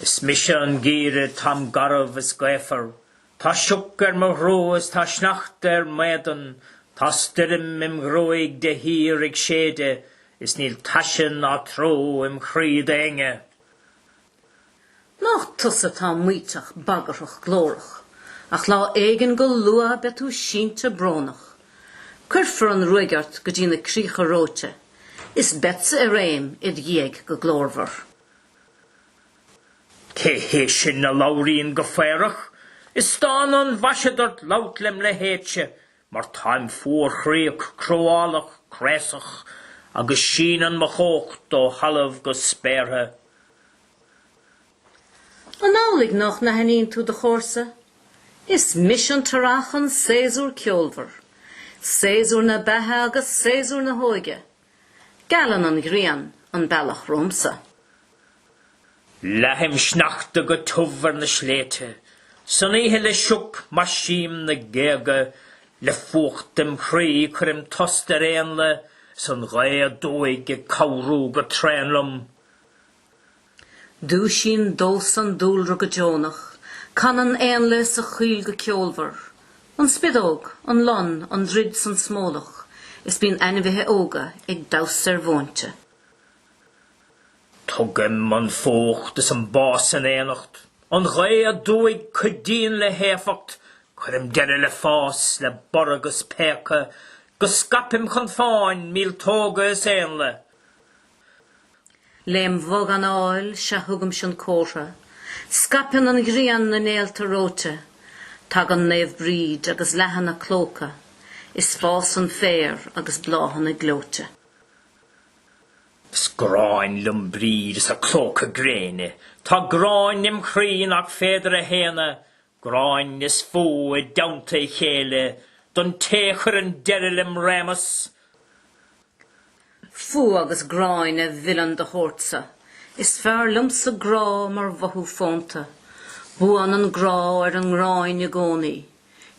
Is mise an Geimhreadh táim garbh is gaofar Tá sioc ar mo ghrua is tá sneachta ar m'éadan, Tá stoirm im ghruaig de shíor ag séideadh, Is níl taise ná trua im chroí d'éinne. Nách tusa atá maíteach bagarthach glórach, Ach lá éigin go luath beidh tú sínte brónach, Cuirfear an ruaig ort go dtí na críocha reoite, Is beadsa i réim id dhiaidh go glórmhar. Cé hé sin a labhraíonn go faobhrach? Is dána an mhaise duit labhairt lem leithéidse, mar táim fuarchroíoch cruálach craosach, agus síneann mo chumhacht ó thalamh go spéartha. An amhlaidh nách n-aithníonn tú do chomharsa? Is mise an tEarrach, an Séasúr ceolmhar. Séasúr na beatha agus séasúr na hóige. Gealann an ghrian an bealach romhamsa. Leathaim sneachta go tiubh ar na sléibhte san oíche le sioc, maisím na géaga le fuacht im chroí, cuirim tost ar éanlaith is an ghaoth aduaidh ag cabhrú go tréan liom. Dúisíonn domhsa an dúlra go deonach, canann éanlaith sa choill go ceolmhar, an spideog, an lon, an druid 's an smólach, is bíonn ainmhithe óga ag damhsa ar mhóinte. Tugaim an fuacht is an bás in éineacht, an ghaoth aduaidh, cuidíonn le héifeacht, cuirim deireadh le fás, le borradh 'gus péacadh, 'gus scaipim chun fáin, míoltóga is éanlaith. Lem' bhog anáil, sea thugaimse an comhartha, Scaipeann an ghrian na néalta reoite, Tagann Naomh Bríd agus leathann a clóca, Is fásann féar agus bláthanna gleoite. Is gráin liom Bríd is a clóca gréine, Tá gráin im' chroí nach féidir a shéanadh, Gráin is fuath i dteannta a chéile don té a chuireann deireadh lem' réimeas. Fuath agus gráin a mhilleann do shórtsa. Is fearr liomsa grá mar mhothú fónta. Buann an grá ar an ngráin i gcónaí.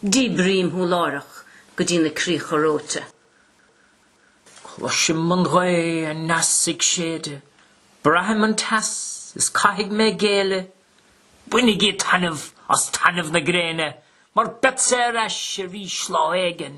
Díbrím thú láithreach go dtí na críocha reoite. Cloisim an ghaoth aneas ag séideadh. Braithim an teas is caithfidh mé géilleadh. Bainigí taitneamh as taitneamh na gréine mar beadsa ar ais arís lá éigin.